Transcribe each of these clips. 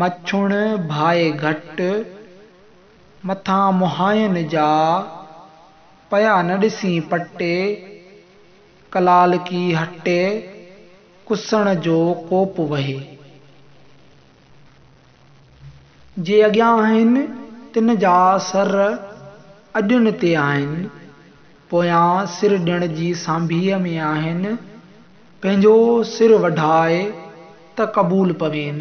مڇوڻ ڀائي گهٽ مٿان مهاين جا، پيا نه ڏسين پٽي، ڪلالڪي هٽي ڪسڻ جو ڪوپ وهي. جي اڳيان آهن، تن جا سر اڏڻ تي آهن، پويان سر ڏڻ جي سانڀيء ۾ آهن. پنهنجو سر وڍاء ته قبول پوين،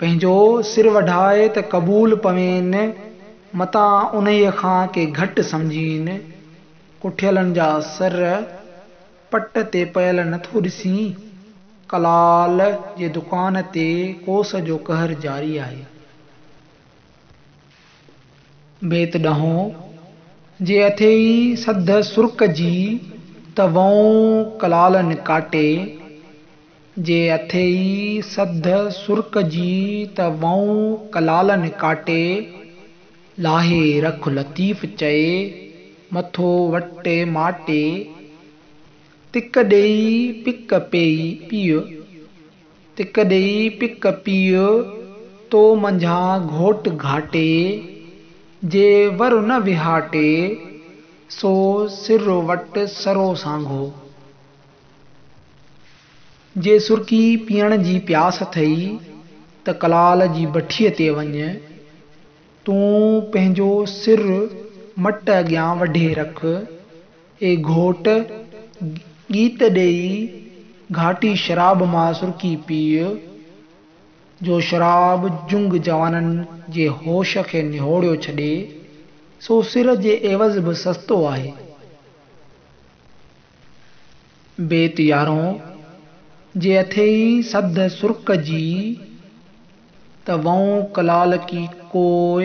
پنهنجو سر وڍاء ته قبول پوين، متان انهيء کان ڪي گهٽ سمجهين، ڪٺيلن جا سر پٽ تي پيل نٿو ڏسين، ڪلال جي دڪان تي ڪوس جو قهر جاري آهي. بيت ڏهون، جي اٿئي سڌ سرڪ جي، ته وئون ڪلالن ڪاٽي. جي اٿئي سڌ سرڪ جي، ته وئون ڪلالن ڪاٽي. لاهي رک لطيف چئي، مٿو وٽي ماٽي. تڪ ڏيئي پڪ پيئي پيء. تڪ ڏئي پڪ پيء تو منجهان گهوٽ گهاٽي، جي ور نه وهاٽي، سو سر وٽ سرو سانگهو. جي سرڪي پيئڻ جي پياس اٿئي ته ڪلال جي بٺيء تي وڃ، تون پنهنجو سر مٽ اڳيان وڍي رک. اي گهوٽ! ڳيت ڏيئي گهاٽي شراب مان سرڪي پيء، جو شراب جهنگ جوانن جي هوش کي نهوڙيو ڇڏي، سو سر جي عيوض به سستو آهي. بيت يارهون، جي اٿئي سڌ سرڪجي، ته وئون ڪلالڪي ڪوء.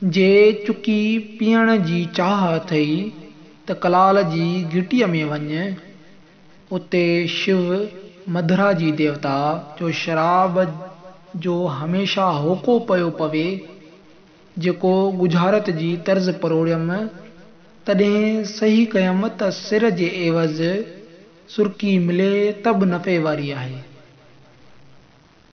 جي چڪي پيئڻ جي چاهه اٿئي ته ڪلال جي گهٽيء ۾ وڃ، اتي شو، مڌرا جي ديوتا، جو شراب جو هميشه هوڪو پيو پوي، جيڪو ڳجهارت جي طرز پروڙيم، تڏهن صحيح ڪيم ته سر جي عيوض سرڪي ملي ته به نفعي واري آهي.